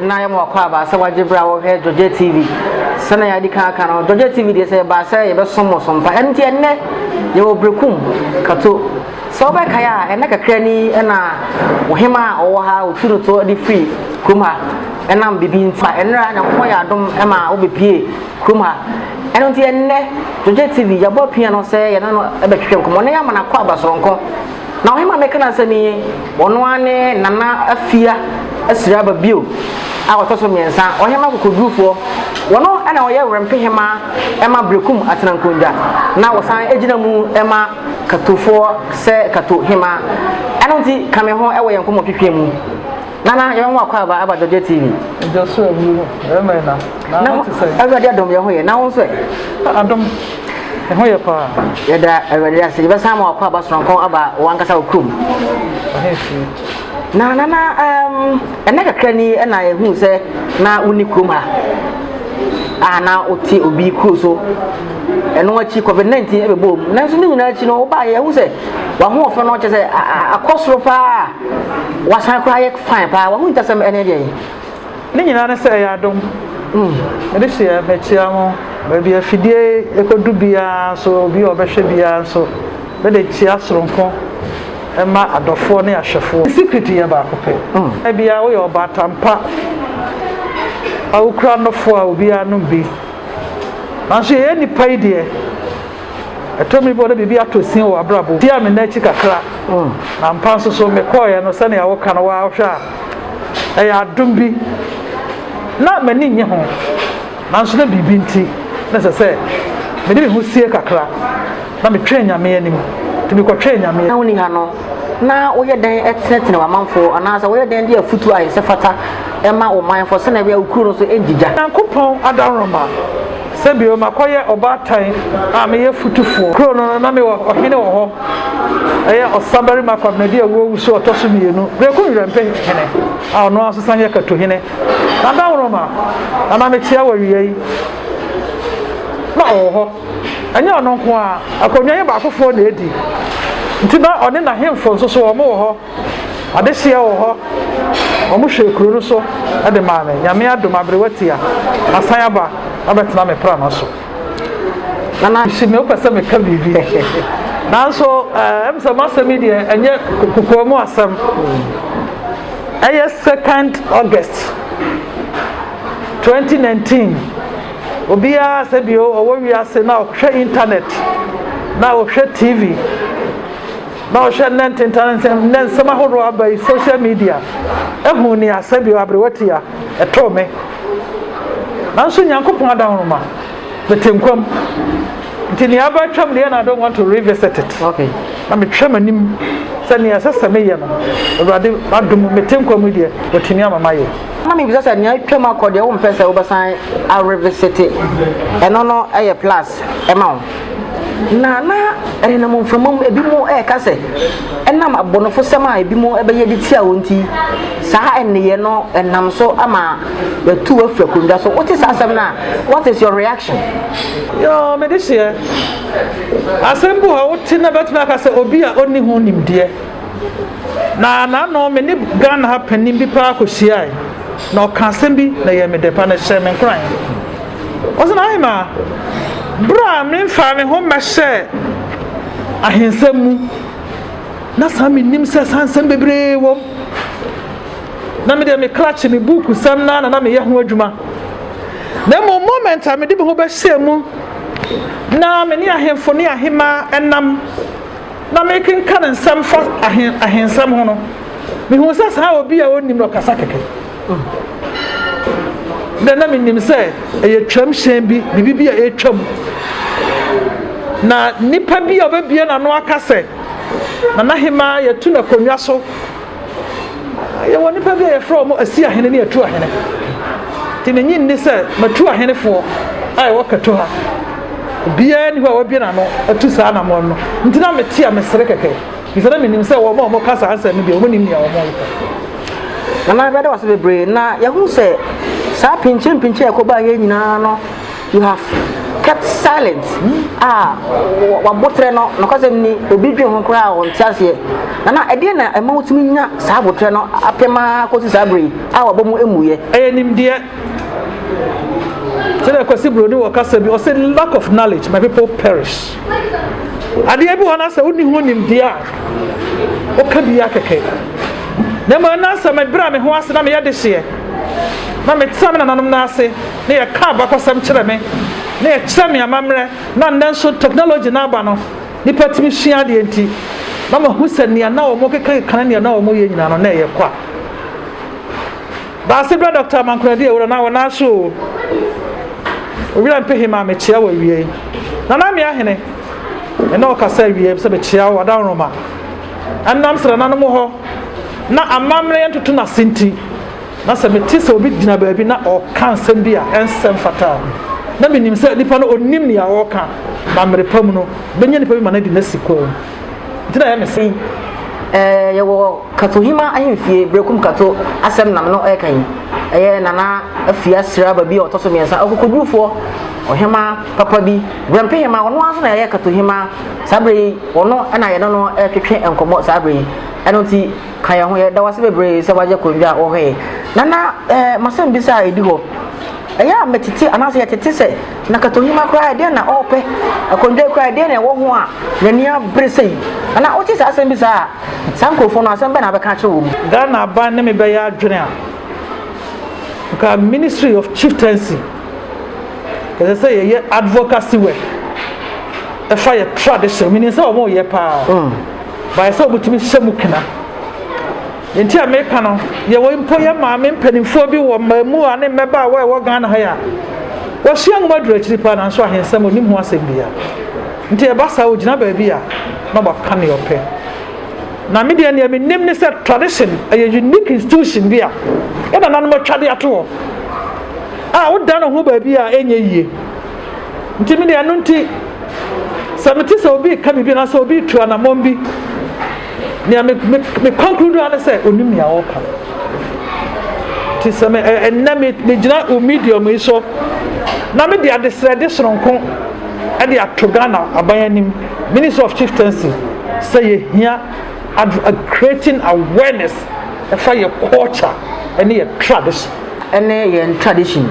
na yɛma wakwaaba sɛ wagye berɛ a wɔhwɛ Georgette TV sɛnea yɛadi kan aka no Georgette TV deɛ sɛ yɛbaa sɛ yɛbɛsom mo so mpa ɛno nti ɛnnɛ yɛwɔ Berekum Kato sɛ wobɛkae a ɛnɛ kakra ni ɛna ɔhema a ɔwɔ ha ɔtu no to de firi kurom ha ɛnam biribi nti ɛnera nyankopɔn yɛ adom ɛma wobɛpie kurom ha ɛno nti ɛnnɛ Georgette TV yɛbɔ pia no sɛ yɛne no ɛbɛtwetwe nkɔmmɔ na yɛama no akɔ aba soronko Na ɔhema a meka n'asɛm yi, ɔno ara ne Nana Afia Asiriaba bio a ɔtɔ so mmiɛnsa, ɔhema akokodurufoɔ. Ɔno na ɔyɛ werɛmpehema ma Berekum Atenankongya, na ɔsan gyina mu ma Katofoɔ sɛ Kato hema. Ɛno nti, ka me ho wɔ yɛn nkɔmmɔtwetwe mu. nana yɛn ho akɔ aba aba jɔjɔ tv. ɛjɔ so ewu no ɛmɛ na na na ɔte sɛ. awurade adom yɛn ho yɛ na wɔn nso ɛ. adom yɛn ho yɛ paa. yɛda awurade ase yɛbɛsan ama wakɔ aba soronko aba wɔn ankasa wɔ kurom. na nana um, ɛnɛ kakra ni ɛna ehu sɛ na wonni kurom ha a na wote obi kuro so ɛno akyi covid 19 ɛbɛbɔ mu nanso ne nyinaa akyi no wobaeɛ ɛhu sɛ wahoɔfɛ no kyɛ sɛ akɔ soro paa Wasan koraa ayɛ fine paa, wahu ntasɛm ɛne deɛn? Ne nyinaa ne sɛ ɛyɛ adom. Mm. Mede hyia makyia mo baabi a afidie ɛkɔdu biara nso obi a ɔbɛhwɛ biara nso mede kyia soronko ma adɔfoɔ ne ahwɛfoɔ. Secret yɛ baako pɛ. Mm. Ebia woyɛ ɔbaatan pa a wokura nɔfoɔ a obiara nom bi. Nanso yɛyɛ nnipa yi deɛ. Ɛtɔ mmere bi na biribi atɔ sin wɔ abrabɔ mu. Tie a me nna akyi kakra, na ampa nso so mekɔeɛ no sɛnea woka no waa wohwɛ a, ɛyɛ adom bi. Ná m'ani nnye ho, nanso na biribi nti na ɛsɛ sɛ mede me ho sie kakra na metwɛn Nyame anim. Enti mekɔtwɛn Nyame anim. Na wonni ha no, na woyɛ dɛn tenatena w'amanfo anaasɛ woyɛ dɛn de afotu a ɛsɛ fata ma wo manfo sɛnea ɛbɛyɛ a wo kuro no nso rengyigya? Onyankopɔn adaworoma. Sɛ bio, makɔyɛ ɔbaatan a meyɛ fotufoɔ. Kuro no no, na mewɔ ɔhene wɔ hɔ. Ɛyɛ ɔsabarima Kwabena di awuo wusu ɔtɔ so mmienu, Berekum Nwerɛmpe hene, a ɔno ara nso sane yɛ Kato hene. Na Dawuroma na na mekyea wɔ awia yi. Na ɔwɔ hɔ. Ɛnyɛ ɔno nko ara, akonnwa yi baakofoɔ na ɛdi. Nti na ɔne n'ahemfo nso so wɔn wɔ hɔ. Adehyeɛ wɔ hɔ. Wɔn hwɛɛ kuro no so de maa me. Nyame adom, aberewa tia. Masan aba abɛtena me prama so. Nana hye me wopɛ sɛ meka biribi. Nanso ɛm eh, sɛ m'asɛm yi deɛ ɛnyɛ kokoa mu asɛm. Ɛyɛ second August 2019. Obiara sɛ bio ɔwɔ wiase na ɔhwɛ internet na ɔhwɛ TV. na ɔhwɛ nnɛ ntentan nsɛm nnɛ nsɛm ahodoɔ aba yi social media ɛhu ne asɛ bio aberewa ti a ɛtoo me nanso nyankopɔn adahoroma mete nkwam nti nea aba atwam deɛ na I don't want to revisit it okay. na metwa m'anim sɛ nea ɛsɛ sɛ meyɛ no awurade adom mete nkwam deɛ watumi ama mayɛ na mebisa sɛ nea atwam akɔ deɛ wompɛ sɛ wobɛsan arevisite ɛno no ɛyɛ plus ɛma wo Na na ɛnenam mframa mu ebinom reka sɛ ɛnam abɔnefosɛm a ebinom bɛyɛ de tia wɔn nti, saa nneyɛe no nam so ama yɛatu wo afiri akonnwa so. Wote saa asɛm no a, what is your reaction? Yoo, mede hyeɛ. Asɛm bi wɔ hɔ wote na bɛtumi aka sɛ obi a ɔnni ho nimdeɛ. Na n'ano me ne Ghana ha panin bi paa kɔhyiae na ɔka asɛm bi na yɛ me dɛ pa na ɛhyɛ me nkoran. Ɔsɛ na ahema berɛ a memfaa me ho mmɛhyɛɛ ahensɛm mu, na saa mennim sɛ saa nsɛm bebree wom. Na me deɛ me krakye me buuku sɛm na na na meyɛ ho adwuma. Na mmom moment a mede me ho bɛhyɛɛ mu na me ne ahemfo ne ahema nam na mekenkan nsɛm fa ahen ahensɛm ho no, mehuu sɛ saa obi a ɔnnim no ɔkasa kɛkɛ. na na menim sɛ ɛyɛ twam hyɛn bi biribi bi a ɛretwam na nipa bi a ɔbɛbie n'ano aka sɛ nana hemaa yɛtu no akonnwa so yɛwɔ nipa bi a yɛfrɛ wɔn asi ahene ne atu ahene nti ne nyi nni sɛ matu ahenefoɔ a ɛwɔ kato ha obiara ni hɔ a wabie n'ano atu saa anamɔn no nti na mete a mesere kɛkɛ Bisa na menim sɛ wɔn a wɔka saa nsɛm no deɛ wɔn nim nea wɔn reka. Nana bɛda wase bebree na yɛhu sɛ saa pinkye mpinkye a ɛkɔbaa yɛn nyinaa no you have kept silent a wabotrɛ no nokwasɛm ni obi dwen ho koraa a ɔnte aseɛ nana ɛdeɛ na ɛma wotumi nya saa abotrɛ no apem ara kɔsi saa bere a wabɔ mu mmuyɛ ɛyɛ nimdeɛ sɛdeɛ kwasi buroni wɔ kasa bi ɔsɛ lack of knowledge my people perish adeɛ bi wɔ na sɛ wonni ho nimdeɛ a woka bi akɛkɛ na mmom na sɛ mebrɛ me ho ase na meyɛ de hyeɛ na metena me nananom no ase na yɛka abakɔsɛm kyerɛ me na yɛkyerɛ me amammerɛ na nnɛ nso technology no aba no nipa tumi sua adeɛ nti na mahu sɛ nea na wɔn kekakeka ne nea na wɔn yɛ nyinaa no na ɛyɛ kwa Baase bra Doctor Amankoradi Awura na wɔn nan so o Owira Mpehima me kyea wo awiei Nana Amia Hene ɛna ɔkasa awiei sɛ me kyea wo Adaworoma ɛnam sɛ nananom hɔ na amammerɛ yɛ ntoto na se nti na sɛ me te sɛ obi gyina baabi na ɔka nsɛm bi a ɛnsɛm fataa ho na me nim sɛ nipa no onim nea ɔka na mmere pa mu no bɛnya nipa bi ma no adi nasi kwan Nti na ɛyɛ me sei, ɛɛ yɛwɔ Katohima ahemfie, Berekum Kato asɛm na me no ɛɛka yi. Ɛyɛ Nana Afia Siraba bi a ɔtɔ so mmiɛnsa, ɔkokodurufoɔ, ɔhema papa bi, Brɛmpe hema, ɔno ara nso na ɛyɛ Katohima. Saa berɛ yi, ɔno na yɛne no ɛretwetwe nkɔmmɔ saa berɛ yi. Ɛno nti, ka yɛn ho, yɛda wo ase bebree sɛ woagye akonnwa a wɔhwɛ yɛn. Nana, ɛɛ m'asɛm bi sɛ a ɛdi hɔ, ɛyɛ a metete anaasɛ yɛtete sɛ, Na katonyima koraa ɛdeɛn na ɔɔpɛ akondwa koraa ɛdeɛn na ɛwɔ ho a n'ani abere sei anaa wote saa asɛm bi saa a saa nkurɔfoɔ no asɛm bɛn na abɛka akyerɛ wɔn. Ghana aban ne me bɛyɛ adwene a nka ministry of chieftaincy ɛsɛ sɛ yɛyɛ advocacy work ɛfa yɛ tradition menim sɛ wɔn yɛ paa mm. baayɛ sɛ wɔn tumi hyɛ mu kena. Nti a meka no, yɛwɔ mpo yɛ maame mpanimfoɔ bi wɔ mmaamua ne mmabaawa a ɛwɔ Ghana ha yi a wɔasua nwoma duru akyiri paa nanso ahensɛm ɔnim ho asɛm bia. Nti ɛba saa ɔgyina baabi a na waka ne ɔpɛ. Na me deɛ nea menim ne sɛ tradition ɛyɛ unique institution bi a yɛ nananom atwa de ato hɔ a woda no ho baabi a ɛnyɛ yie. Nti me deɛ ɛno nti sɛ mete sɛ obi ka biribi anaasɛ obi tu anammɔn bi nea me me me kɔnkuru do ano sɛ onim nea ɔreka no ti sɛ me ɛnna me me gyina o medium yi so na me de adesrɛde soronko ɛde ato ghana aban anim ministry of chieftaincy sɛ yɛhia creating awareness ɛfa yɛ culture ɛne yɛ tradition. ɛne yɛn tradition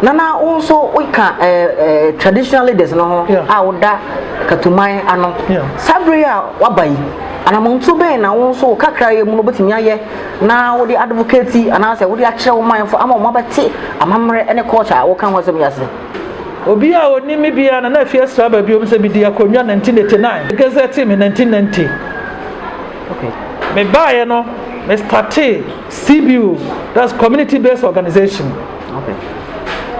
nana wo nso woka ɛɛ ɛɛ traditional leaders no ho a woda katuman ano saa bere a waba yi anamontu bɛn na wo nso wo kakra yɛ mu no wobɛtumi ayɛ na wode advocate anaasɛ wode akyerɛ wo manfo ama wɔn abɛte amammerɛ ne culture a woka ho asɛm yi ase. obi a onim me biara na na afi asra ba biom sɛ medi akonnwa 1989 gazette me 1990 okay. mebaeɛ no mestate CBO, that's community based organization. Okay.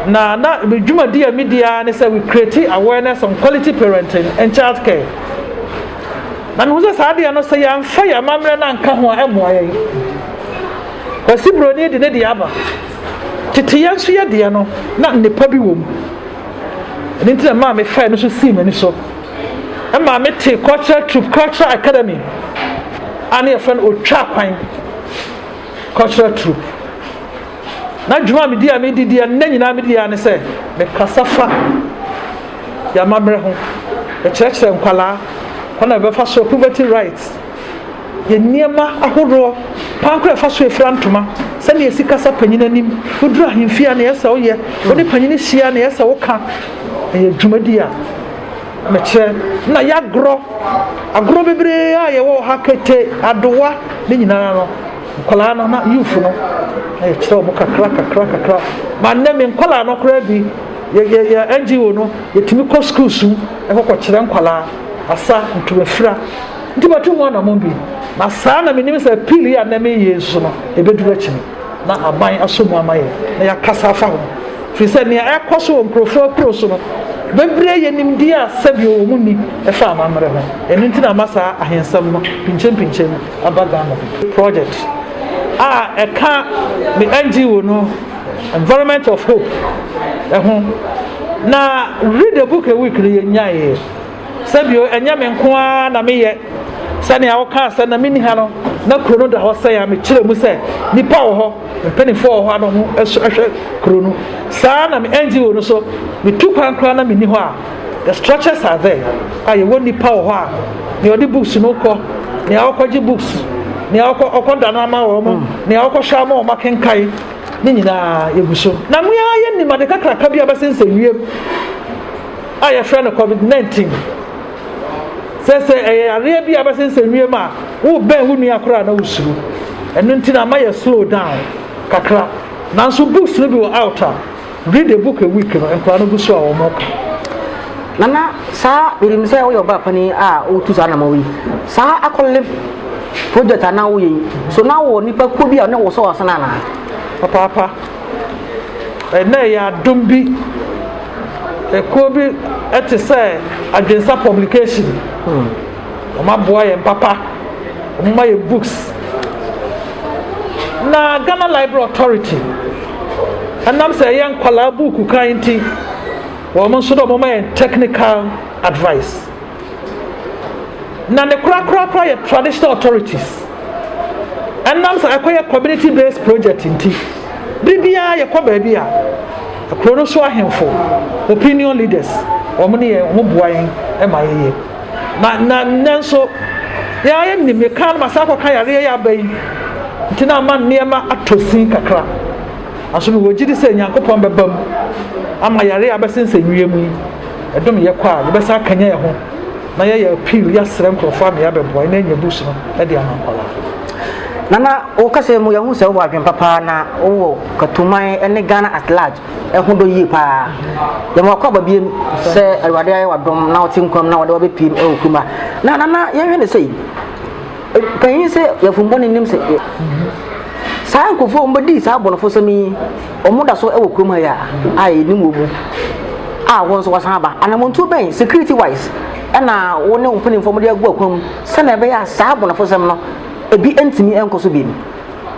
Na na me dwumadi a medi ara ne sɛ we create awareness on quality parenting and child care. Na mehu sɛ saa adeɛ no sɛ yɛamfa yɛn amammerɛ no anka ho a ɛmmoa yɛn. Kwasi Buroni de ne deɛ aba. Tete yɛn nso yɛ deɛ no na nnepa bi wɔ mu. Ɛno nti na maa mefae no so sii m'ani so. Ɛmaa mete cultural troop cultural academy a ne yɛfrɛ no otwa kwan cultural troupe na dwuma a medi a medi di a nna nyinaa medi a ne sɛ mekasa fa yɛamammerɛ ho yɛkyerɛkyerɛ nkwalaa kwan a yɛbɛfa so poverty rights yɛ nneɛma ahoroɔ kwan koro ɛfa so efira ntoma sɛdeɛ esi kasa panyin anim woduru ahemfie a na yɛsɛ woyɛ wode panyin hyia na yɛsɛ woka ɛyɛ dwumadi a Mekyerɛ, na yɛagorɔ agorɔ bebree a yɛwɔ wɔ ha, kete, adowa, ne nyinaa no, nkwadaa no na youth no, na yɛkyerɛ wɔn kakra kakra kakra. Ma nnɛ me nkwadaa no koraa bi, yɛ yɛ yɛ NGO no, yɛtumi kɔ sukuu su, ɛkɔkɔkyerɛ nkwadaa, asa, ntomafira. Nti matu ho anamɔn bi, na saa na menim sɛ appeal yi a nnɛ meyɛ nso no, ɛbɛduru akyiri. na aban asɔ mu ama yɛn na yɛakasa afa ho, ɛfiri sɛ nea ɛrekɔ so wɔ nkurɔfoɔ akuro so no bɛbire yɛn nimdeɛ a sɛdeɛ wɔn nni ɛfa amammerɛ ho. Ɛno nti na ama saa ahensɛm no pinkyɛmpinkyɛm mu aba Ghana bi. Project a ɛka me NGO no Environment of Hope ho na Read a Book a Week no yɛnyaeɛ. sɛbio ɛnyɛ me nko ara na meyɛ sɛnea wokaa sɛ na menni ha no na kuro no da hɔ sɛn a mekyerɛ mu sɛ nnipa wɔ hɔ mpanimfoɔ wɔ hɔ a na ɔmo hwɛ kuro no saa na me ngo no so metu kwan koraa na menni hɔ a the structures are there a yɛwɔ nnipa wɔ hɔ a nea ɔde books no kɔ nea ɔkɔgye books nea ɔkɔ ɔkɔ da no ama wɔn mo nea ɔkɔ hwɛ ama wɔn akenkan ne nyinaa yɛgu so na mmea yɛ nim ade kakraka bi a bɛsensɛ wiem a yɛfrɛ no COVID-19. Sɛ sɛ ɛyɛ yareɛ bi a bɛsɛ sɛ wiem a wobɛn wo nua koraa na wosuro. Ɛno nti na ama yɛ slow down kakra. Nanso books no bi wɔ out a read a book a week no nkwadaa no gu so a wɔn ka. Nana saa menim sɛ woyɛ ɔbaa panin a wotu saa anamɔ yi saa akɔle project anaa woyɛ yi so na wɔ nipa kuo bi a ne wɔ sɔ wɔ asana anaa. Papaapa. Ɛnnɛ ɛyɛ adom bi. Ɛkuo bi te sɛ Adwensa publication. Wɔn aboa yɛn papa. Wɔn ma yɛ books. Na Ghana Library Authority ɛnam sɛ ɛyɛ nkwadaa buuku kan nti wɔn nso dɛ wɔn ma yɛn technical advice. na ne korakorakora yɛ traditional authorities ɛnam sɛ ɛkɔyɛ community based project nti bere biara yɛkɔ baabi a kuro no so ahemfo opinion leaders wɔn ne yɛn wɔn boa yɛn ma yɛyɛ na na nanso yɛayɛ nim yɛka no ma saa kɔka yareɛ yɛ aba yi nti na ama nneɛma atɔ sin kakra aso no wɔgye di sɛ nyankopɔn bɛba mu ama yareɛ abɛsensɛ wiem yi ɛdom yɛ kɔ a yɛbɛsa akanya yɛn ho na yɛyɛ appeal yɛasrɛ nkurɔfoɔ ama yɛabɛboa na yɛanya books no de ama nkwadaa nana wo kasa mu yɛhu sɛ wowɔ adwen papa na wowɔ katuman ne ghana at large ɛho dɔ yie paa yɛma wakɔ aba biem sɛ awurade ayɛ wadom na wote nkwam na wɔde wabɛpiem ɛwɔ kuruma na nana yɛhwɛ ne sɛ panyin sɛ yɛfombɔ ne nim sɛ saa nkurɔfoɔ wɔbɛdii saa abɔnofo sɛm yi Wɔn da so wɔ kurom ha yi a a yɛ nim wɔn mu a wɔn nso wɔasan aba. Anamontuo bɛn security wise ɛna wo ne wo mpanimfoɔ mo de agu akwan mu sɛnea ɛbɛyɛ a saa abonafosɛm no ebi ntumi nkɔ so bio mu.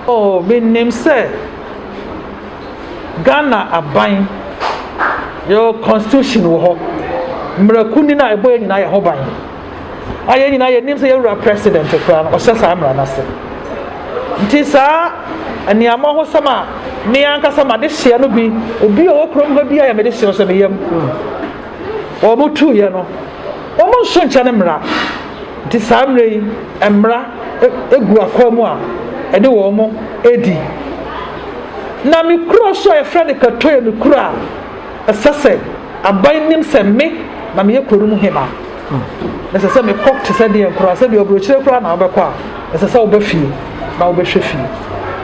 Oh me nim sɛ Ghana aban yɛwɔ constitution wɔ hɔ, mmarakuo ni no a ɛbɔ yɛn nyinaa yɛ ho ban. a yɛn nyinaa yɛnim sɛ yɛwura president koraa no ɔhyɛ saa mmara no ase nti saa nneɛma ho sɛm a me ankasa ma de hyɛ no bi obi a ɔwɔ kurom hɔ bi a yɛ mede hyɛ sɛ ne yam wɔn mo tu yɛ no wɔn mo nso nkyɛn ne mmara nti saa mmerɛ yi mmara egu e, akɔn mu a ɛne wɔn mo edi na me kuro so a yɛfrɛ no katoe me kuro a. Ɛsɛ sɛ aban nim sɛ me na meyɛ kuro no mu hema, na ɛsɛ sɛ mekɔ te sɛ deɛn koraa, sɛdeɛ ɔbrɛkyire koraa na wobɛkɔ a, ɛsɛ sɛ woba fie na wobɛhwɛ fie.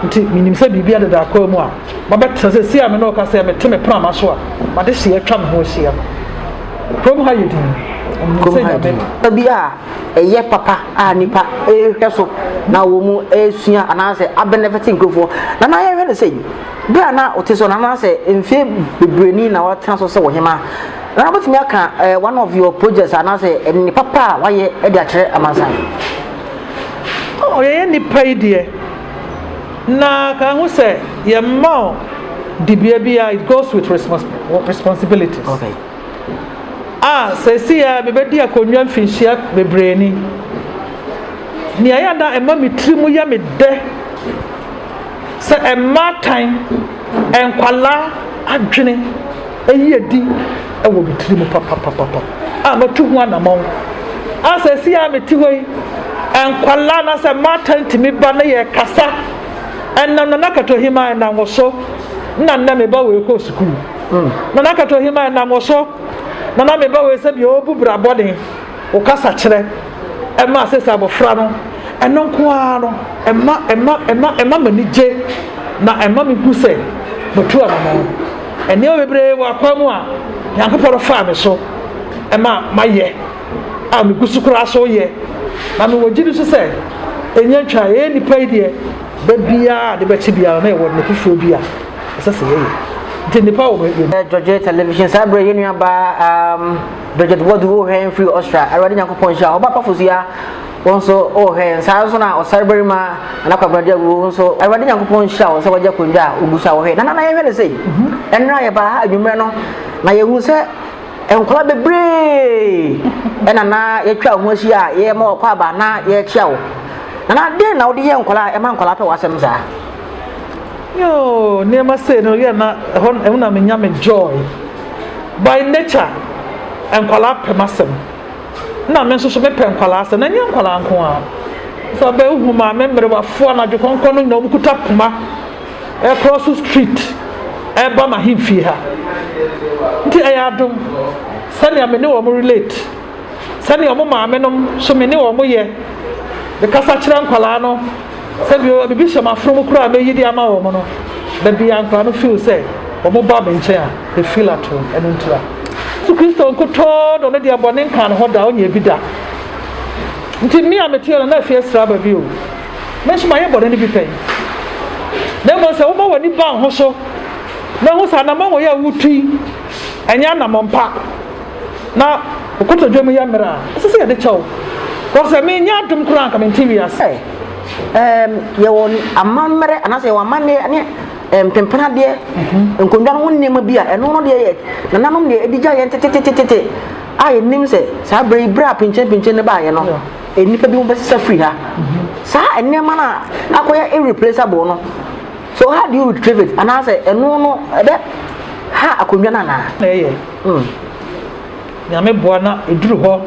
Nti menim sɛ biribi adeda akwan mu a mabɛtena sɛ si a me ne ɔka sɛ mete me prama so a made hyeɛ atwa me ho ahyia no. Kurom ha yɛ din. Kurom ha yɛ din. Bi a ɛyɛ papa a nipa ɛrehwɛ so na wɔn ɛresua anaasɛ abɛnɛfɛte nkurɔfoɔ na na yɛhwɛ no sɛ bere a na ɔte so no anaasɛ mfeɛ bebree ni na watena so sɛ ɔhema na wobɛtumi aka eh, one of your projects anaasɛ ɛne papa a wayɛ de akyerɛ amansan ɔyɛyɛ nnipa yi deɛ na ka ho sɛ yɛmma dibea bi a it goes with responsibilities okay. a seesei ara mebɛdi akonnwa mfinhyia bebree ni. Nea ɛyɛ na ɛma me tiri mu yɛ me dɛ sɛ mmaatan, nkwalaa adwene ɛyi adi wɔ me tiri mu papapapapa a matu ho anamɔn a seesei ara mete hɔ yi nkwalaa na sɛ mmaatan tumi ba na yɛ kasa ɛnam na nakatohima ɛnam wɔ so na nnɛ meba wɔ ɛkɔ sukuu. nana kato hima ɛnam wo so nana meba wei sɛ deɛ ɔbu bra bɔne wo kasa kyerɛ ɛma sɛ sɛ abɔfra no ɛno nko ara no ɛma ɛma ɛma ɛma m'ani gye na ɛma me hu sɛ matu anamɔ ɛnneɛma bebree wɔ akwan mu a nyankopɔn no faa me so ɛma mayɛ a megu so koraa so yɛ na mewɔ gye di so sɛ ɛnyɛ ntwa ɛyɛ nnipa yi deɛ da biara de bɛkye biara na ɛwɔ ne foforɔ bi a ɛsɛ sɛ yɛyɛ nti nnipa wɔ baabi ɛ dɔgye television saa berɛ yɛ nua baa um, dɔgye wɔde wohwɛ yɛn firi ɔsra awurade nyankopɔn nhyira ɔba kɔfo so ya wɔn nso wohwɛ yɛn saa nso na ɔsare barima anakwabrade awuo nso awurade nyankopɔn nhyira wɔn sɛ wɔgye akonnwa a ɔgu so a wɔhwɛ nana na yɛhwɛ ne sei mhm. ɛnora yɛbaa ha adwummerɛ no na yɛhu sɛ nkwadaa bebree ɛna na yɛtwa ho ahyia a yɛma ɔkɔ aba na yɛkyia wo nana den na wode yɛ nkwadaa ɛma nkwadaa pɛ w'asɛm saa yoo nneɛma sei no yɛ na ɛhɔ ɛho na menya me joy by nature nkwadaa pɛ m'asɛm na me nso so mepɛ nkwadaa asɛm na nyɛ nkwadaa nko a sɛ ɔbɛn hu maame mmerewafo anadwo kɔnkɔn no nyinaa wɔn kuta poma ɛkɔɔ so street ɛba ma he fie ha nti ɛyɛ adom sɛnea me ne wɔn relate. sɛdeɛ wɔn maamenom so me ne wɔn yɛ, mekasa kyerɛ nkwadaa no sɛ bi bibi hyɛ m'afro mu koraa mɛyi de ama wɔn no, baabi a nkwadaa no feel sɛ wɔn ba me nkyɛn a, they feel at home, ɛno nti a. Yesu Kristo nkutoo dɔ no deɛ bɔne nkaa ne ho da, ɔnyɛ bi da. Nti me a meteɛ no na afie asira aba bi o, me nso mayɛ bɔne no bi pɛn. Na mmom sɛ woma w'ani ba ho so na ho sɛ anamɔn wɔ yɛ a wotui, ɛnyɛ anamɔn pa. na wo kotodwe mu yɛ mmerɛ a, ɛsɛ sɛ yɛde kyɛ wo. Because sɛ mennya adom koraa a, anka mente wiase. Ɛ, ɛɛm, yɛwɔ amammerɛ anaasɛ yɛwɔ amanneɛ ne mpempenadeɛ, nkonnwa no ho nneɛma bi a ɛno no deɛ yɛ nananom deɛ ɛdi gya yɛn tetetetete a yɛnim sɛ saa berɛ yi berɛ a pinkyenpinkyen no baeɛ no nnipa bi ho bɛsesa firi ha saa nneɛma no a akɔyɛ irreplaceable no so how do you retrieve it anaasɛ ɛno no ɛbɛ ha akonnwa no anaa ɛyɛ Oh, Nyame boa na ɛduru hɔ.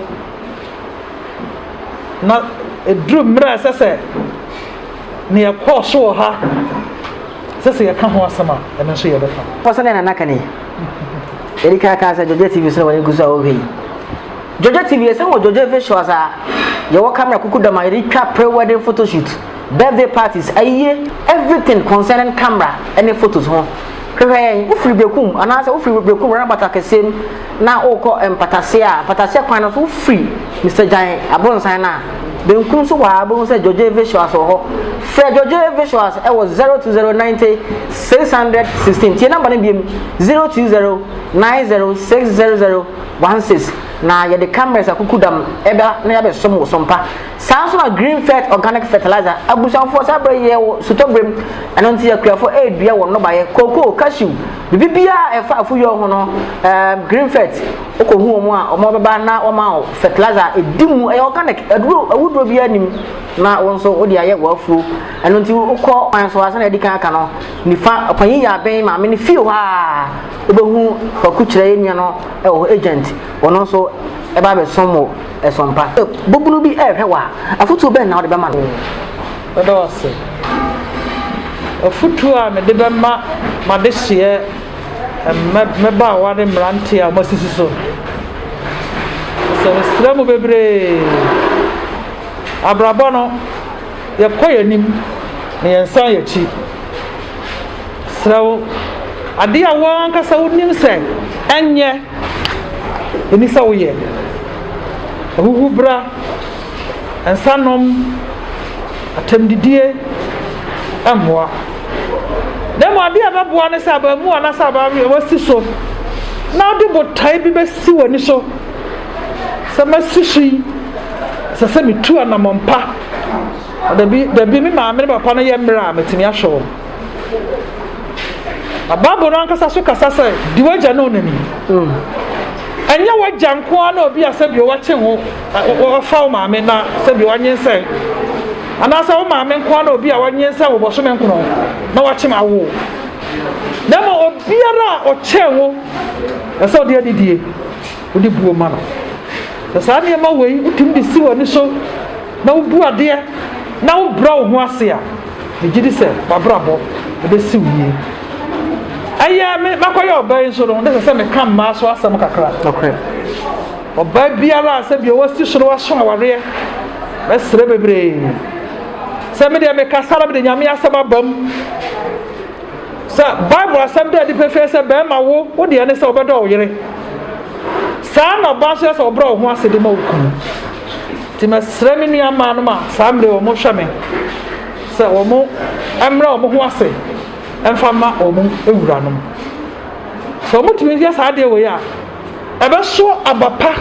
Na ɛduru mmerɛ a ɛsɛ sɛ ne yɛkɔɔ so wɔ ha sɛ sɛ yɛka ho asɛm a ɛno nso yɛbɛka. Pɔsɛ ne nana ka ne ɛdi ka kaa sɛ Georgia TV sɛ wɔne gu so a wɔhwɛ yi. Georgia TV ɛsɛ wɔ Georgia visuals a yɛwɔ camera kuku dam a yɛde twa pre-wedding photoshoot. birthday parties, ayie, everything concerning camera ne photos ho. Hwehwɛ yɛn, wofiri Bekum anaasɛ wofiri Bekum roundabout akɛseɛ mu na wokɔ Mpataseɛ a, Mpataseɛ kwan no so wofiri Mister Gyan aborosan no a, benkum so hɔ ara wobɛhu sɛ Georgey Visuals wɔ hɔ. Frɛ Georgey Visuals wɔ 020 90 600 16. Tie number no biom, 020 90 600 16 na yɛde cameras akukudam ɛba na yɛabɛsom wo so mpa. Saa ara nso na Greenfert Organic Fertilizer abusuafoɔ saa berɛ yi yɛwɔ sotɔberɛ mu, ɛno nti akuafoɔ redua wɔn nnɔbaeɛ, cocoa, cashew, biribiara a ɛfa afudeɛ ho no ɛɛm Greenfert wokɔhu wɔn a wɔn bɛba na wɔma wo fertilizer a ɛdi mu, ɛyɛ organic, aduro awuduro biara nni mu na wo nso wode ayɛ w'afuo. Ɛno nti wokɔ kwan so a sɛdeɛ adi kan aka no nifa ɔpanyin yɛ abɛn maame no fie hɔ a wobɛhu kwaku kyerɛ yɛn nua no ɛwɔ hɔ agent ɔno nso ɛba abɛsom wo. Ɛsom pa. Sɛ babunu bi rehwɛ wo a, afotuo bɛn na wode bɛma no? Oo, meda wo ase. Afotuo a mede bɛma m'adehyeɛ mmabaawa ne mmeranteɛ a wɔasisi so no, sɛ mesrɛ mo bebree, abrabɔ no, yɛkɔ yɛn anim na yɛnsan yɛn akyi. Serɛ wo, adeɛ a wo ankasa wonim sɛ ɛnyɛ Ɛni sɛ woyɛ ahuhubra, nsanom, atɛmdidie mmoa. Na mmom adeɛ a ɛbɛboa ne sɛ abaamuwa anaasɛ abaayewa wasi so na wode botae bi bɛsi w'ani so sɛ masi so yi ɛsɛ sɛ metu anammɔn pa dabi dabi me maame ne papa no yɛ mmerɛ a mɛtumi ahwɛ wɔn Na Bible no ankasa so kasa sɛ, di w'agya ne wo na ni. Ɛnyɛ w'agya nko ara na obi a sɛbi wɔkye ho, wɔfa wo maame na sɛbi wɔnyensɛn. Anaasɛ wo maame nko ara na obi a wɔnyensɛn wo bɔsome nkono na wakye ma wo. Na mmom obiara a ɔkyɛn wo, ɛsɛ ɔde anidie. wode buo ma no. Sɛ saa nneɛma wei wotumi de si w'ani so na wobu adeɛ na wobrɛ wo ho ase a, megye di sɛ w'abrabɔ ɛbɛsi wo yie. Ɛyɛ me makɔyɛ ɔbaa yi nso no, ne sɛ sɛ meka mmaa so asɛm kakra. Ɔbaa biara a sɛ bi ɔwɔ si so no waso awareɛ, mɛsrɛ bebree sɛ medeɛ mekasa na mede nyame asɛm aba mu. Sɛ Bible asɛm da adi pefee sɛ barima wo wo deɛ ne sɛ wobɛdɔ wo yere, saa ara na ɔbaa nso yɛ sɛ ɔbrɛ wo ho ase de ma wo kunu. Nti mɛsrɛ me nua mmaa nom a saa mmere wɔn hwɛ me sɛ wɔn mmrɛ wɔn ho ase mfa ma wɔn wuranom. Sɛ wɔtumi yɛ saa adeɛ wei a, ɛbɛso aba pa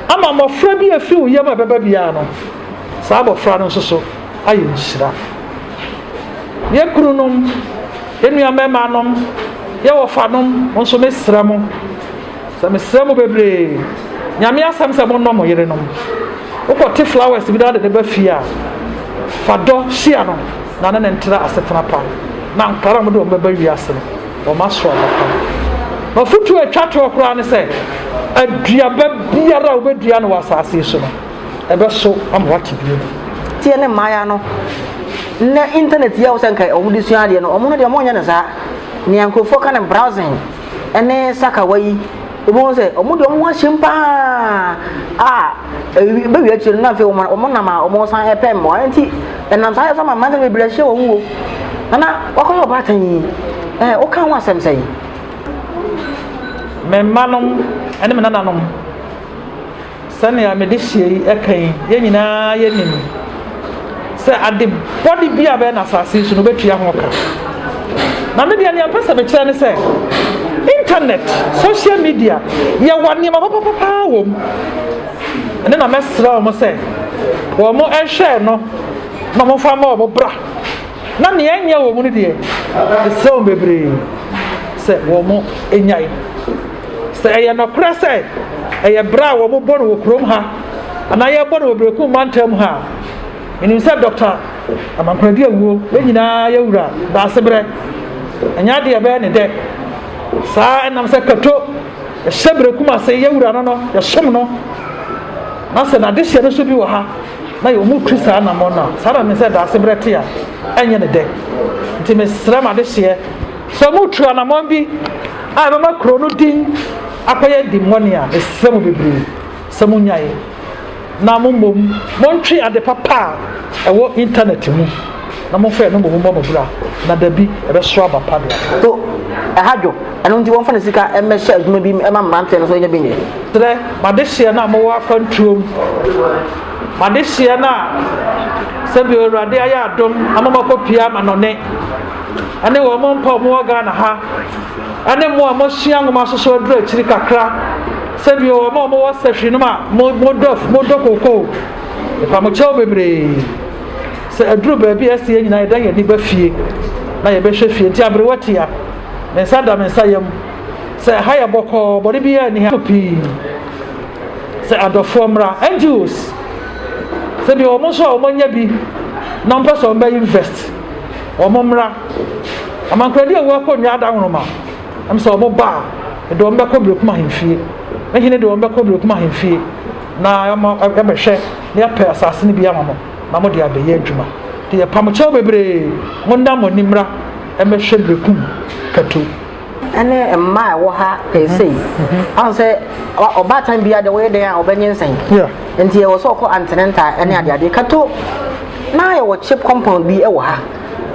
ama mmɔfra bi a ɛfiri wo yam a ɛbɛba biara no, saa abɔfra no nso so ayɛ nhyira. yɛn kununom, yɛn nuamɛmaanom, yɛn wɔfanom, mo nso mesrɛ mo, sɛ mesrɛ mo bebree, nyame asɛm sɛ monnɔ mo yerenom. Wokɔte flowers bi na wode ne ba fie a, fa dɔ hyia no na ne ne ntra asetena pa na nkwadaa a wɔde wɔn bɛba wiase no, wɔn aso aba pa. Na ɔfotuo a ɛtwa toɔ koraa ne sɛ, aduaba biara a wobɛdua no wɔ asase so no, ɛbɛso ama wate biribi adi. Nti yɛne mmayewa no, nnɛ internet yi a wosɛ nka wɔn de sua adeɛ no, wɔn no deɛ wɔn nyɛ no saa. Nea nkurɔfoɔ ka no browsing ɛne sakawa yi, wobɛhu sɛ wɔn deɛ wɔn ho ahyem paa a ɛwi bɛwi akyire no na afei wɔn wɔn nam a wɔn san ɛpɛ mmoa nti ɛnam saa yɛ so ama mmansa bebree ahyɛ wɔn wuo. Nana wakɔyɛ ɔbaatan yi ɛɛ woka ho asɛm sɛ yi. Me mmanom ɛne me nananom. Sɛnea me dehyeɛ yi ɛka yi, yɛn nyinaa yɛnim sɛ ade bɔne bi a bɛyɛ no asase yi so no wobɛtua ho ka. Na me deɛ nea mpɛ sɛ mekyerɛ ne sɛ internet, social media, yɛwɔ nneɛma papapa paa wɔ mu. Ɛne na mɛsrɛ wɔn sɛ wɔn nhwɛ no na wɔn fa ma wɔn bra. Na nea ɛnyɛ wɔn mu no deɛ, ɛsrɛ wɔn bebree sɛ wɔn nyae. Sɛ ɛyɛ nokorɛ sɛ ɛyɛ bra a wɔbɔ no wɔ kurom ha anaa yɛbɔ no wɔ Berekum mantam ha a, menim sɛ Dɔkta Amankoradi awuo, yɛn nyinaa yɛ wura Daasebrɛ. Ɛnyɛ adeɛ ɛbɛyɛ ne dɛ. Saa ɛnam sɛ Kato ɛhyɛ Berekum ase, yɛ wura no no, yɛsom no. Na sɛ n'adehyeɛ no so bi wɔ ha na yɛ ɔmu tu saa namɔ no a, saa na me sɛ Daasebrɛ te a, ɛnyɛ ne dɛ. Nti mesrɛ m'adehyeɛ Sɛ moretu anammɔn bi a ɛbɛma kurow no din akɔyɛ dimmɔne a, mesrɛ mo bebree sɛ munnyae, na mommom montwe ade papa a ɛwɔ Intanɛt mu, na momfa ɛno mmom mmɔ mo bra, na dabi, ɛbɛsow aba pa de aba. So ɛha dwo? Ɛno nti wɔmfa ne sika mmɛhyɛ adwuma bi mma mmeranteɛ no so nya bi nyɛ? Serɛ m'adehyeɛ no a mowɔ akwantuom, m'adehyeɛ no a sɛdeɛ Awurade ayɛ adom ama moakɔpue amanɔne. ɛne wɔn mpa a wɔwɔ ghana ha ɛne mo a mohyia nwoma soso aduru akyiri kakra sɛdeɛ wɔn a wɔwɔ sɛhwe nom a modɔ modɔ koko ɛfa mo kyɛw bebree sɛ aduru baabi a ɛsɛ yɛn nyinaa yɛda yɛn ani ba fie na yɛbɛhwɛ fie nti aberewa tia me nsa da me nsa yam sɛ ha yɛ bɔkɔɔ bɔne biara nni ha pii sɛ adɔfoɔ mmra ngos sɛdeɛ wɔn nso a wɔanya bi na wɔpɛ sɛ wɔbɛyɛ invest wɔn mmra. Amankoradi a wɔkɔ nnwa ada nwoma, ɛm sɛ wɔn ba a, ɛde wɔn bɛkɔ Berekum ahemfie. Ne hene de wɔn bɛkɔ Berekum ahemfie na ɛma ɛbɛhwɛ na yɛpɛ asase no bi ama mo na mo de abɛyɛ adwuma. Te yɛpam kyɛw bebree, mo nna mo ani mmra ɛmɛhwɛ Berekum kɛto. ɛne mmaa a ɛwɔ ha pɛɛ mhm. sei ahụ sɛ ɔbaatan bia deɛ wɔyɛ dɛn a ɔbɛnyensan nti ɛwɔ sɛ ɔkɔ antenenta ɛne adeadeɛ kato na yɛwɔ chip compound bi ɛwɔ ha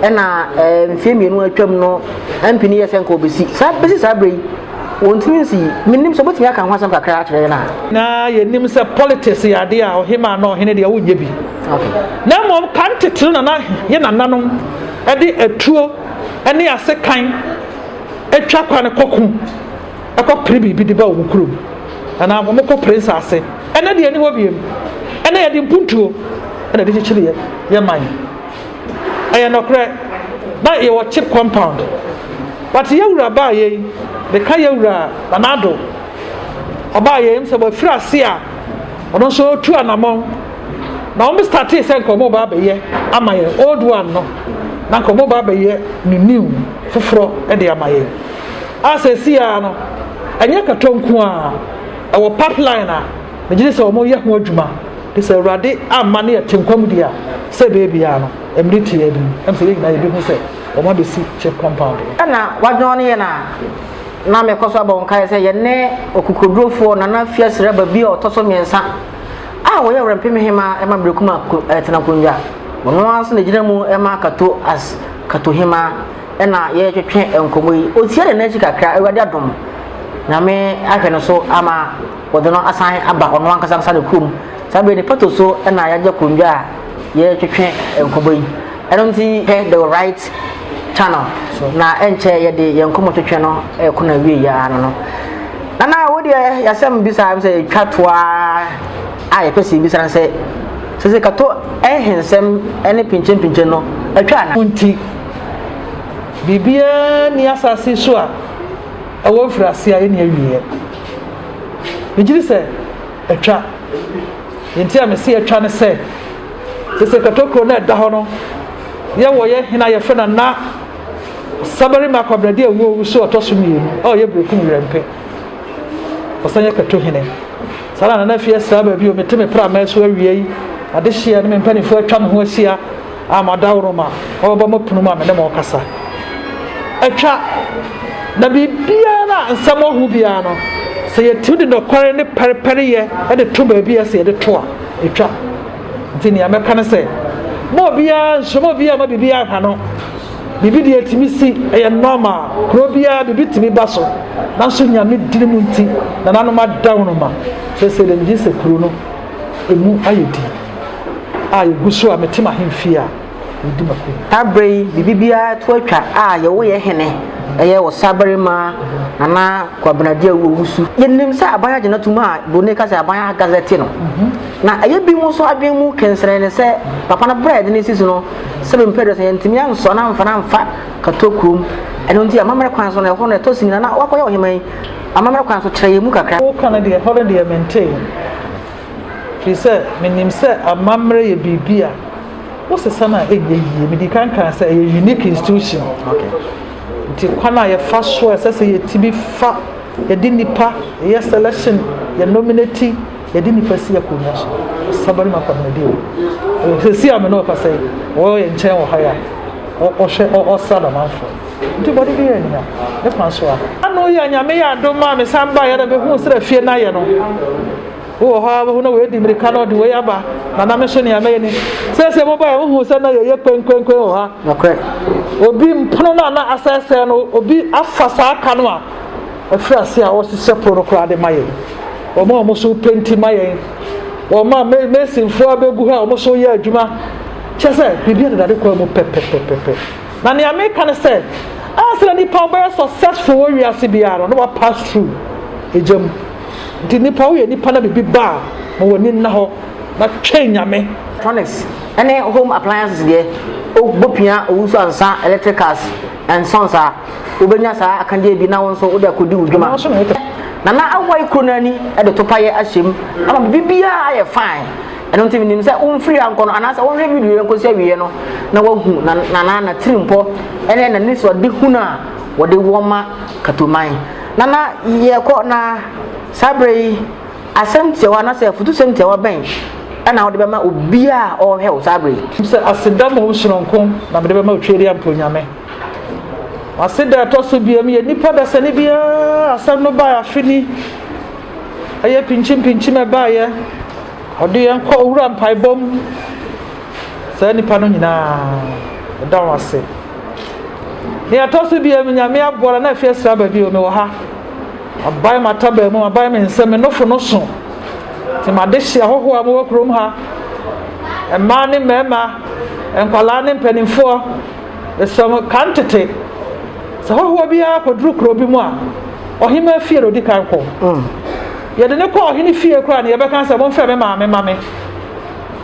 ɛna ɛɛ mfie mmienu atwam no mp no yɛ sɛ nka ɔbɛsi saa bɛsi saa berɛ yi wɔntumi nsi menim sɛ wobɛtumi aka ho asɛm kakra akyerɛ yɛn a na yɛnim sɛ politics yɛ adeɛ a ɔhema na ɔhene deɛ wonyɛ bi na mmom ka ntetero nana yɛ nananom ɛde atuo ne asekan twa kwan kɔko kɔpere biribi de ba wɔn kurom anaa wɔn kɔpere nsaase ɛnɛ deɛ ɛni hɔ biem ɛnɛ yɛde mpuntuo ɛna ɛde kyekyere yɛ yɛ man ɛyɛ nɔkorɛ na yɛwɔ chip compound but yɛwura baa yɛ yi de ka yɛwura nanado ɔbaa yɛ yi sɛ wɔafiri ase a ɔno nso ɔtu anamɔn na wɔn startee sɛ nka wɔn ba abɛyɛ ama yɛn old one no na nka wɔn ba abɛyɛ ne new foforɔ de ama yɛn a sɛ esi ara no ɛnyɛ kɛtɔ nko a ɛwɔ pipeline a megye ne sɛ wɔn yɛ ho adwuma de sɛ awurade amma ne yɛte nkwa mu di a sɛ beebi a no mmiri te yɛn anim ɛm sɛ yɛn nyinaa yɛbɛhu sɛ wɔn abɛsi chip compound. ɛna wadwɔn ne yɛn a na mekɔ so abɔ nkae sɛ yɛne ɔkokodurofoɔ nana fiasiraba bi a ɔtɔ so mmiɛnsa a ɔyɛ Ɔwɛrɛmfem Hemaa ma Berekum a ɛtena nkonnwa. Ɔno ara nso na ɛgyina mu ma Kato as Kato Hemaa. Ɛna yɛretwetwe nkɔmmɔ yi. Ɔtia ne nan akyi kakra, Awurade adom. Nyame ahwɛ no so ama wɔde no asan aba ɔno ankasa ankasa ne kurom. Saa berɛ yi ne pɛto so na yɛagye akonnwa a yɛretwetwe nkɔmmɔ yi. Ɛno nti hwɛ The Right Channel na ɛnkyɛ yɛde yɛn nkɔmmɔtwetwe no ɛrekɔ no awie yɛ ano no. Nana wo deɛ yɛasɛm bisa sɛ yɛtwa to ara a yɛpɛ sɛ yɛbisa no sɛ sɛ sɛ kato ɛhensɛm ne pinkyenpinkyen no atwa ana? nti biribiara nni asase so a ɛwɔ mfiriase a ɛnni awieɛ. Megye di sɛ atwa. Deɛ nti a mese yɛtwa ne sɛ sese katokuro no a ɛda hɔ no yɛwɔ yɛ hena yɛfrɛ no na sabarima akwabrade a ɛwuo wusu ɔtɔ so mmienu a ɔyɛ berekum werɛmpɛ ɔsan yɛ kato hene saa na nana fie asira baabi o mete me prama so awia yi adehyeɛ no me mpanimfoɔ atwa me ho ahyia a madawroma ɔbɛba m'apono mu a me ne mo rekasa atwa na biribiara no a nsɛm ɔho biara no sɛ yɛtumi de nɔkware ne pɛrepɛreyɛ de to baabi a sɛ yɛde to a ɛtwa nti nea mɛka no sɛ ma obiara nhyɛma obiara ma biribi aha no biribi deɛ ɛtumi si ɛyɛ nɔɔma kuro biara biribi tumi ba so nanso nyame dini mu nti nananom adawonoma sɛ sɛ dɛm gye sɛ kuro no ɛmu ayɛ di a yɛgu so a mete m'ahemfie a medi m'akonya. Saa berɛ yi biribi biara to atwa a yɛwo yɛ hene, ɛyɛ ɔsabarima, Nana Kwabena Agyau Owusu. Yɛnim sɛ aban agye no atom a Broni ka sɛ aban agazɛte no, na ɛyɛ binom nso adwene mu kɛnserɛne sɛ papa no berɛ a yɛde no sisi no sɛbe mprɛduasa yɛantumi ansɔ no amfa no amfa Kato kurom, ɛno nti amammerɛ kwan so no ɛhɔ no ɛtɔ sin a na wakɔyɛ ɔheman yi amammerɛ kwan so kyerɛ yɛn mu kakra. Woka no deɛ, ɛhɔ no deɛ mentee. Ɛfiri sɛ menim sɛ amammerɛ yɛ biribi a wosesa no a ɛnyɛ yie. Mede kan kaa sɛ ɛyɛ unique institution. Nti kwan a yɛfa so a ɛsɛ sɛ yɛtumi fa yɛde nnipa yɛ selection, yɛ nominate, yɛde nnipa si akonnwa so. Ɔsaba no mu akɔnɔmɛdeɛ o. Sɛsi a me ne ɔkasa yi, ɔwɔ yɛn nkyɛn wɔ ha yi a, ɔhwɛ ɔsra Damanfoɔ. Nti bɔde bi yɛ nya ne kwan so a. Ano yi a Nyame yɛ adom a mesan baeɛ na mehuu sɛdeɛ fie no ayɛ no. bi wɔ hɔ a bɛhu na wɔadi mmirika na ɔde wei aba na na me nso nea mɛyɛ ni sɛsɛ mo baa wohu sɛ na yɛyɛ kwenkwenkwen wɔ ha obi mpono no a na asɛesɛe no obi afa saa ka no a ɛfiri ase a wɔhyehyɛ pono no koraa de ma yɛn wɔn a wɔn so penti ma yɛn wɔn a mesinfoɔ abɛgu hɔ a wɔn so yɛ adwuma kyɛ sɛ biribi a dedade kwan mu pɛpɛpɛpɛpɛ na nea meka no sɛ a sɛ nipa bɛyɛ successful wɔ wiase biara no na wa pass through egya mu Nti nipa woyɛ nipa na biribi ba a ma w'ani nna hɔ na twɛn Nyame. Electronics ne home appliances deɛ wobɛpia owusu ansa electricals nso nsaa wobɛnya saa akadeɛ bi na wo nso wode akɔdi wo dwuma. Nana Awai kuro no ani de topayɛ ahyɛm ama biribiara ayɛ fine ɛno nti menim sɛ womfiri ha nkɔ no anaasɛ wohwɛ video yɛ nkɔsi awieɛ no na wahu Nana natirimpɔ ne nanisoadehunu a wɔde wɔma Katoman. Na na yɛkɔ na saa berɛ yi asɛm tiawa anaasɛ afutusɛm tiawa bɛn na wode bɛma obiara a ɔrehwɛ wo saa berɛ yi? Sɛ, Aseda ma wo sononko na mede bɛma Otwaadi Ampɔn Nyame. Aseda a ɛtɔ so biam yɛ nipa dasani bi a asɛm no baeɛ afe ni. Ɛyɛ pinkyimpinkyim ɛbaeɛ. Ɔde yɛn kɔ Owura mpaebɔ mu. saa nnipa no nyinaa meda wɔn ase nea ɛtɔ so bia me nyame aboa na na afie asira baabi o mewɔ ha aban matabaa mu aban me nsɛm me nofo no so nti made hye ahɔhoɔ a mowɔ kurom ha mmaa ne mmarima nkwadaa ne mpanimfoɔ ɛsɛ mo ka ntete sɛ hɔhoɔ biara kɔduru kuro bi mu a ɔhema fie na ɔdi kan kɔ mm. yɛde ne kɔ ɔhene fie koraa ne yɛbɛka sɛ momfrɛ me maame ma me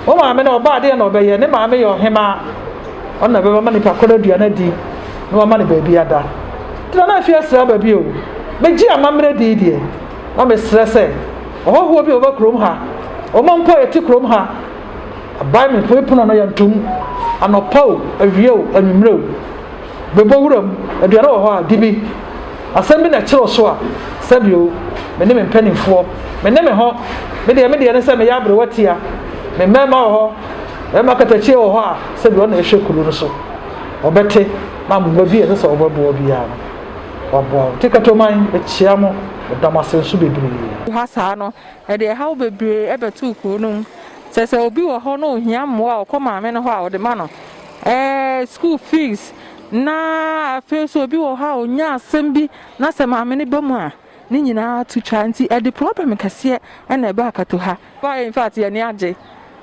Wo maame na ɔbaa deɛ na ɔbɛyɛ. Ne maame yɛ ɔhemaa. Ɔno na bɛbɛma nipa korɔ aduane adi na wama no baabi ada. Nti Nana Afie asrɛ aba bio. Megye amammerɛ dii deɛ, na mesrɛ sɛ ɔhɔhoɔ bi a ɔba kurom ha, ɔma mpo a yɛte kurom ha, aban me pono no yɛntom, anɔpa o, awia o, anwummerɛ o. Bepɔ wuram, aduane wɔ hɔ a, di bi. Asɛm bi na ɛkyere wo so a, sa bi o. Me ne me mpanimfoɔ, me ne me ho. Me deɛ me deɛ ne sɛ meyɛ aberewa tia. Me mmarima wɔ hɔ, barima katakyie wɔ hɔ a, sɛ bi ɔna ɛhwɛ kuro no so. Ɔbɛte na mmoa bi a ɛsɛ sɛ ɔbɛboa biara no, waboa wo. Nti Katoman, mekyea mo, meda mo ase nso bebree. Woha saa no, ɛde ɛhaw bebree bɛtoo kuro no mu. Sɛ sɛ obi wɔ hɔ na ɔhia mmoa a, ɔkɔ maame no hɔ a, ɔde ma no. Ɛɛ school fees na afei nso obi wɔ hɔ a ɔnya asɛm bi na sɛ maame no ba mu a ne nyinaa to twa nti ɛde problem kɛseɛ na ɛba akato ha. In fact yɛn ani agye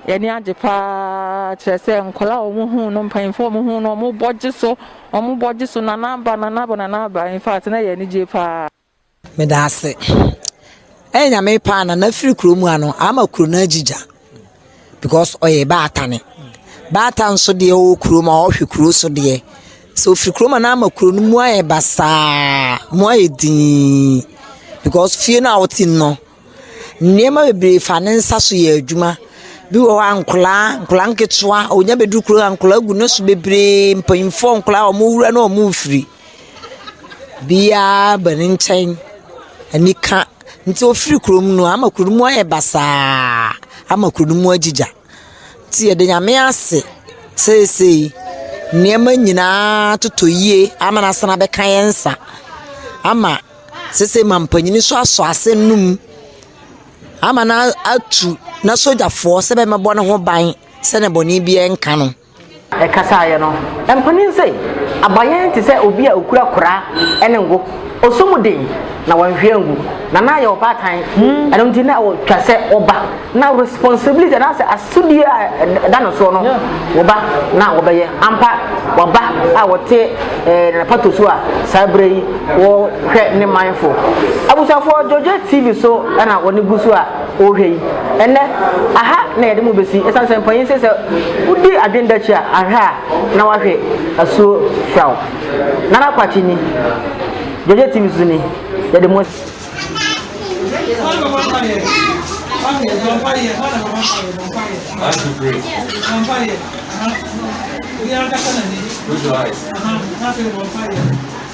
yɛn ani agye paa kyerɛ sɛ nkwadaa a wɔn hu no mpanyinfoɔ wɔn hu no wɔn bɔ gye so wɔn bɔ gye so nana aba nana aba nana aba in fact na yɛn ani gye paa. Meda ase. Ɛyɛ Nyame paa na n'afiri kuro mu ha no ama kuro no agye gya because ɔyɛ baatane. Baatan nso deɛ ɔwɔ kuro mu a ɔhwɛ kuro so deɛ. Sɛ ɔfiri kuro mu a na ama kuro no mu ayɛ basaa, mu ayɛ dinn because fie no a wote mu no Nneɛma bebree fa ne nsa so yɛ adwuma. Bi wɔ hɔ a nkwadaa, nkwadaa nketewa, ɔnya bɛduru kuro a nkwadaa gu ne so bebree, mpanimfoɔ, nkwadaa a wɔrewura ne wɔrefiri. Biara ba ne nkyɛn, anika nti ɔfiri kurom no ama kuro no mu ayɛ basaa, ama kuro no mu agyigya. Nti yɛda Nyame ase seesei nneɛma nyinaa atotɔ yie ama no asan abɛka yɛn nsa ama seesei mampanin nso asɔ asɛnnum ama no atu n'asogyafoɔ sɛ bɛmmɛbɔ ne ho ban sɛdeɛ bɔne biara renka no. Ɛkasaeɛ no, mpanin se, Aba yɛn te sɛ obi a ɔkura koraa ne ngo. Ɔsɔ mu den, na wanhwie angu, na na ayɛ ɔbaatan. Ɛno nti, na ɔtwa sɛ ɔba. Ná responsibility anaasɛ asodie a ɛda ne soɔ no, ɔba na ɔbɛyɛ. Ampa, waba a ɔte n'apatosuo a saa berɛ yi ɔrehwɛ ne manfo. Abusuafoɔ, Georgette TV so na wɔn gu so a. Ɔhwɛ yi, ɛnnɛ, aha na yɛde mo besi, esiane sɛ mpanyin se sɛ wodi adwene da akyi a, ahwɛ a na wahwe asuo firaw. Nana Kwakye ni, Georgia TV so ni, yɛde mo asi.